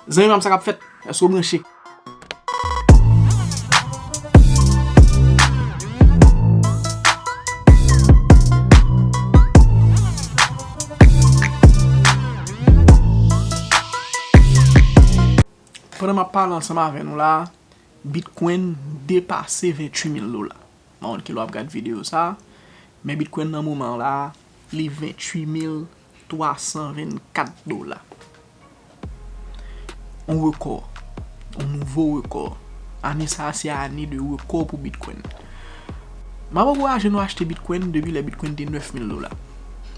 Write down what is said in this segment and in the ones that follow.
Zanmi pam sa kap fèt? Eske ou branche? Pandan map pale ansanm avè nou la, Bitcoin depase 28 mil dola. Mpa konn kilè wap gad video sa, men Bitcoin nan moman la, li 28 mil dola. 324 dola. On rekò. On nouvo rekò. Ane sa a se ane de rekò pou Bitcoin. M ap ankouraje nou achte Bitcoin depi lè Bitcoin te 9000 dola.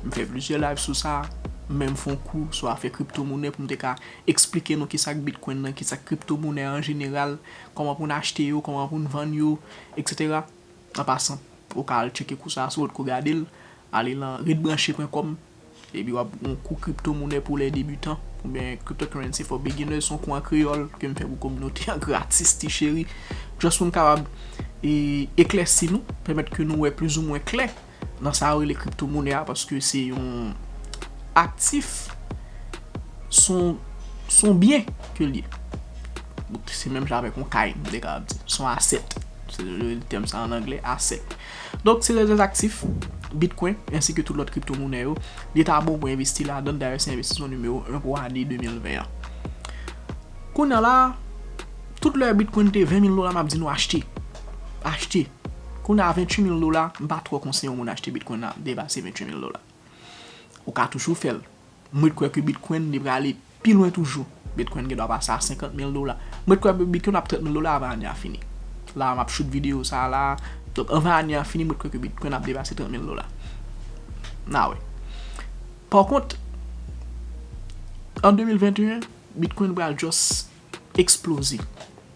M fè plizyè live sou sa, m menm fè yon kou sou afè kriptomonè pou m te ka esplike nou kisa k Bitcoin nan, kisa k kriptomonè an jeneral, kòman pou n achte yo, kòman pou n vann yo, eksetera. An pasan, ou ka al tcheke kou sa a sou lòt kou gade l, ale lan redbranche.com epi w ap gen yon kou kriptomounè pou lè debutan oubyen cryptocurrency for beginners son kou an kreyòl ke m fè pou kominote an gratis ti cheri just pou m kapab eklèsi nou, pèmèt ke nou wè plizoumwen klè. Nan sa yo rele kripto monè a paske se yon aktif son byen ke l ye. Se menm jan avèk yon kay m te ka ap di. Son asèt. Se yo rele tèm sa an anglè asèt. Donk se rezèz aktif Bitcoin ensi ke tout lòt kripto monè yo. Li ta bon pou envesti ladan l dayè se envestisman nimewo 1 pou ane 2020 an. Kounya la a tout lè Bitcoin te 20 mil dola m ap di nou achte. Achte. Kounye a 28 mil dola, m pa twò konseye yon moun achte Bitcoin nan depase 28 mil dola. Ou ka toujou fè l. M ret kwè ke Bitcoin li prale pi lwen toujou. Bitcoin gen dwa pase a 50 mil dola. M ret kwè Bitcoin ap 30 mil dola avan ane a fini. La a m ap shoot videyo sa a la a. Donk anvan ane a fini m ret kwè ke Bitcoin ap depase 30 mil dola. N a wè. Par kont, an 2021, Bitcoin pral just eksploze.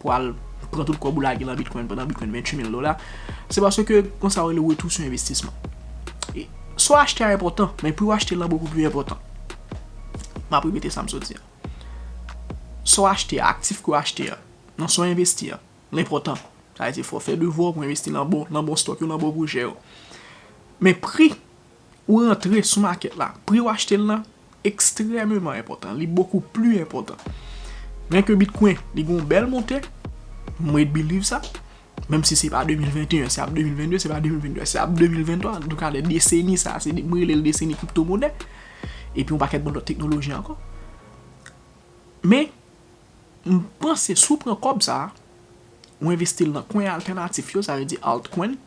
pou al pran tout kòb ou lage nan bitcoin pandan bitcoin 28 mil dola se paske kon sa ou rele retou sou envestisman e sa w achte a enpòtan men pou w achte lan bokou pli enpòtan m ap repete sa m sot di a sa w achte a aktif ke w achte a nan sa w envesti a l enpòtan sa vle di fò w fè devwa w pou w envesti lan bon stòk yo lan bon pwojè yo men pri Ou rantre sou makèt la, pri w achte l lan ekstrèmeman enpòtan, li bokou pli enpòtan. Byen ke bitkwen li gen yon bèl monte, m ret biliv sa, menm si se pa 2021, se ap 2022, se pa 2022, se ap 2023, an tou ka nan deseni sa, se m rele l deseni kripto monè, epi yon pakèt bon lòt teknoloji ankò. Men, m panse si w pran kòb sa, ou envesti l nan kwen altènatif yo, sa vle di altcoin,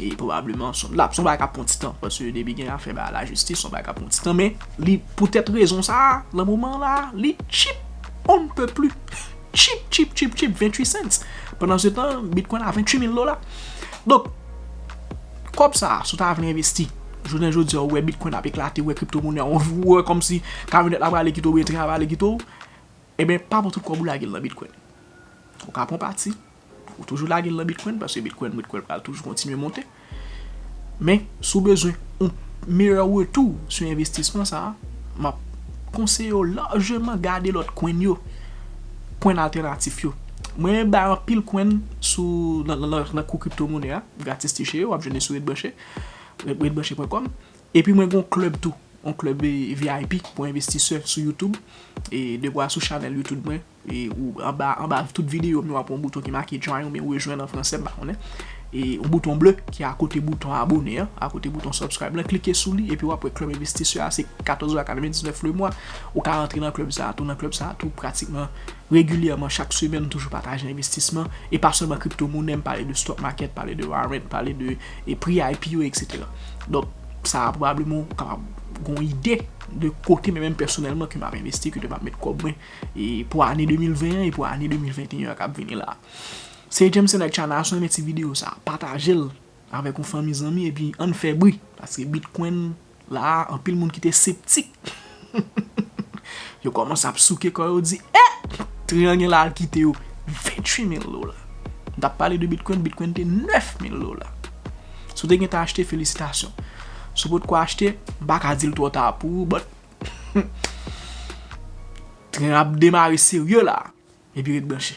e pwobableman son lap son bagay kap pran ti tan paske depi gen afè ba la jistis son bagay kap pran ti tan men li poutèt rezon sa a lan moman la a li tchip on ne peut plus tchip tchip tchip tchip 28 cents pandan se tan bitcoin a 28 mil dola donk kòb sa a si w ta vle envesti jounen jodi a ou wè bitcoin ap eklate ou wè kripto monnen an ou wè kòmsi kamyonèt la prale kite w oubyen tren an prale kite w e ben pa pran tout kòb ou lage l lan bitcoin ou ka pran pati. Ou toujou lagel nan bitcoin paske bitcoin mwen t kwèl pral toujou kontinye monte men si w bezwen yon meyè retou sou envestisman sa map konseye w lajman gade lòt coin yo coin altènatif yo mwen menm bay anpil coin sou nan kou crypto monè a gratis ti cheri wap jwenn li sou RedBranche redbranche.com epi mwen gen yon club tou yon club vip pou envestisè sou youtube e devwa sou chanèl youtube mwen. E ou anba anba tout videyo m yo wap wè yon bouton ki make join oubyen rejwenn an fransè m pa konnen. E yon bouton ble ki akote bouton abone an, akote bouton subscribe lan, klike sou li epi wap wè club investisseur a se 14 dola 99 le mwa. Ou ka rantre nan club sa a tou, nan club sa a tou pratikman regilyèman chak semèn m toujou pataje envestisman e pa sèlman crypto money, m pale de stock market, pale de warrant, pale de pri IPO etc. Donk sa a pwobableman ou kapab gon ide de kote men menm pèsonèlman ke map envesti, kote map met kòb mwen. e pou ane 2020 an e pou ane 2021 an kap vini la. Se Jameson ak Chana si w renmen ti video sa pataje l avèk yon fanmi zanmi epi ann fè bri paske bitcoin la anpil moun ki te septik yo kòmanse ap souke kò yo di eh triyan gen la al kite yo 28 mil dola m tap pale de bitcoin, bitcoin te 9 mil dola si w te gentan achte felisitasyon si w potko achte m paka di l twò ta pou ou but. Tren ap demare serye la epi ret branche.